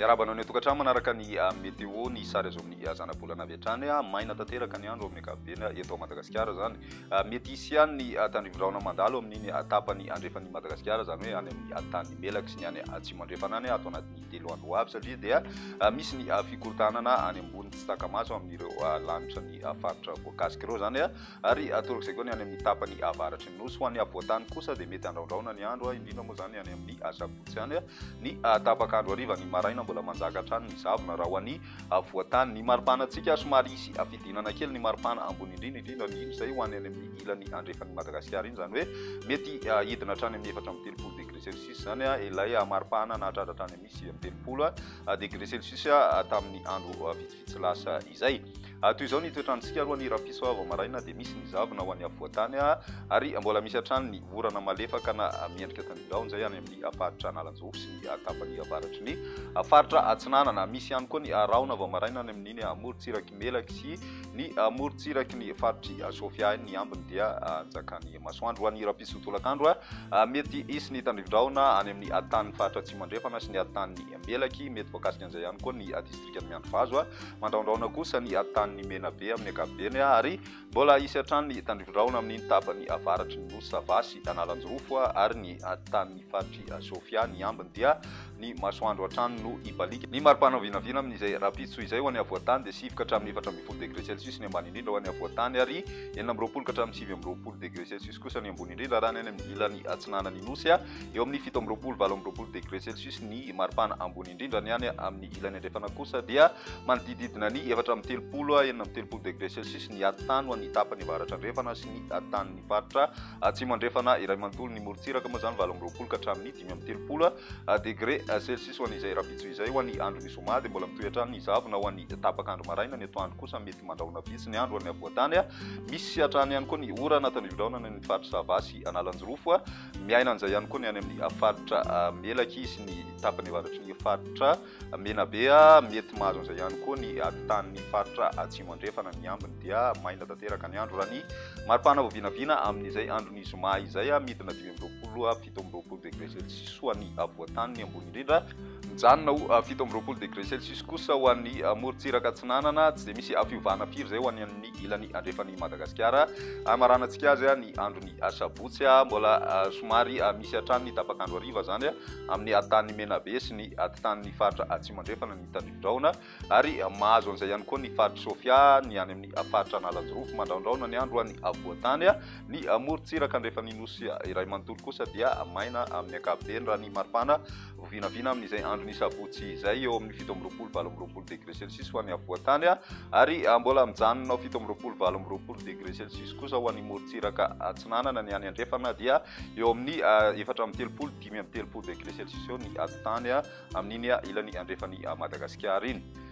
Miarahaba anao ny atokantrano manaraka ny ah, météo ny sary azo amin'ny ah, zanabolana avy hatrany ah, maina tanteraka ny andro amin'ny ankapobeny eto Madagasikara zany mety hisy ihany ny tandrivorahona mandalo amin'iny tapany andrefan'ny Madagasikara zany hoe any amin'ny tany melaka sy ny any atsimo andrefana any ato anatin'ny telo andro ho avy satria dia misy ny fikorontanana any ambony tsy takamaso amin'ireo lanitra ny faritra voakasika ireo zany ary atorok'izay koa ny any amin'ny tapany avaratry ny nosy ho an'ny avoantany kosa dia mety andraondraona ny andro indrindra moa zany any amin'ny asabotsy any ny tapaka andro hariva ny maraina mbola manjaka hatrany ny zavona raha ho an'ny avoantany ny maripana antsika somary hisy afidinana kely ny maripana ambony indrindra indrindra ny izay ho any any amin'ny ilany andrefan'ny madagasikara iny zany hoe mety hidina hatrany amin'ny efatra amin'ny telopolo degré Celsius, izany ilay hamaripahana nahatratra hatrany amin'ny sivy amby telopolo degre Celsius tamin'ny andro vitsivitsy lasa izay. Toy izao ny toetrantsika roa ny rapiso vao maraina dia misy ny zavona ho any afovoantany ary mbola misy hatrany ny orana malefaka na miendrika tanindraony izay any amin'ny faritra Analanjofo sy ny tapany avaratry ny faritra Atsinanana. Misy ihany koa ny rahona vao maraina any amin'iny amorontsiraka Melaky sy ny morontsiraky ny faritr'i Sofia ny ambiny dia anjakan'ny masoandro. Ho an'ny rahampitso tolakandro, mety hisy ny tandrivi-drahona any amin'ny tanin'ny faritra Atsimo Andrefana sy ny tanin'ny Melaky. Mety voakasika an'izay ihany koa ny distrikan'i Miandrivazo. Mandrahondrahona kosa ny tanin'ny Menabe amin'ny ankapobeny ary Mbola hisy hatrany ny tandrifin-drahona amin'iny tapany avaratry ny nosy Sava sy Analanjirofo ary ny tanin'ny faritr'i Sofia. Ny ambiny dia ny masoandro hatrany no hibaliaka. Ny mari-pana vinavina amin'izay rahampitso izay ho an'ny afovoan-tany dia sivy ka hatramin'ny efatra ambin'ny folo degre celsius ny ambany indrindra ho an'ny afovoan-tany ary enina amby roapolo ka hatramin'ny sivy amby roapolo degre celsius kosa ny ambony indrindra raha ny any amin'ny ilany atsinanan'ny Nosy. Eo amin'ny fito amby roapolo, valo amby roapolo degre celsius ny mari-pana ambony indrindra. Ny any amin'ny ilany andrefana kosa dia. Manodidididina ny efatra amby telopolo à enina amby telopolo degré Celsius ny hatin-tany ho an'ny tapany avaratra andrefana sy ny hatin-tanin'ny faritra atsimo andrefana iray manontolo. Ny morontsiraka moa izany valo amby roapolo ka hatramin'ny dimy amby telopolo degré Celsius ho an'izay rahampitso izay. Ho an'ny andron'ny zoma dia mbola mitohy hatrany ny zavona ho an'ny tapak'andro maraina. Ny atoandro kosa mety mandrahona vitsy ny andro ho an'ny afovoan-tany. Misy hatrany ihany koa ny orana ataon'ny biraona any amin'ny faritra Sava sy Analanjirofo. Miaina an'izay ihany koa ny any amin'ny faritra Melaky sy ny tapany avaratry ny faritra. Menabe a, mety mahazo an'izay ihany koa ny ady tanin'ny faritra Atsimo Andrefana, ny ambiny dia maina tanteraka ny andro raha ny mari-pana vao vinavina amin'izay andron'ny zoma izay, midina dimy amby roapolo a fito amby roapolo degre celsius ho an'ny afovoantany ny ambony indrindra, mijanona ho fito amby roapolo degre celsius kosa ho an'ny morontsiraka atsinanana, tsy dia misy fiovana firy izay ho an'ny ilany andrefan'i Madagasikara, hamaranantsika azy ny andron'ny. Asabotsy mbola somary misy hatrany ny tapak'andro hariva izany amin'ny Atitan'i Menabe sy ny Atitan'ny faritra Atsimo Andrefana ny tandrivi-drahona ary mahazo an'izay ihany koa ny faritr'i Sofia, ny any amin'ny faritra Analanjirofo. Mandraondraona ny andro ho an'ny afovoan-tany, ny morontsiraka andrefan'ny Nosy iray manontolo kosa dia maina amin'ny ankapobeny raha ny maripana. Ho vinavina amin'izay andron'ny sabotsy izay eo amin'ny fito amby roapolo valo amby roapolo degré celsius ho an'ny afovoan-tany ary mbola mijanona ao fito amby roapolo valo amby roapolo degré celsius kosa ho an'ny morontsiraka atsinanana. Ny any andrefana dia eo amin'ny efatra amby telopolo dimy amby telopolo degré celsius eo ny atitany amin'iny ilany andrefan'i Madagasikara iny.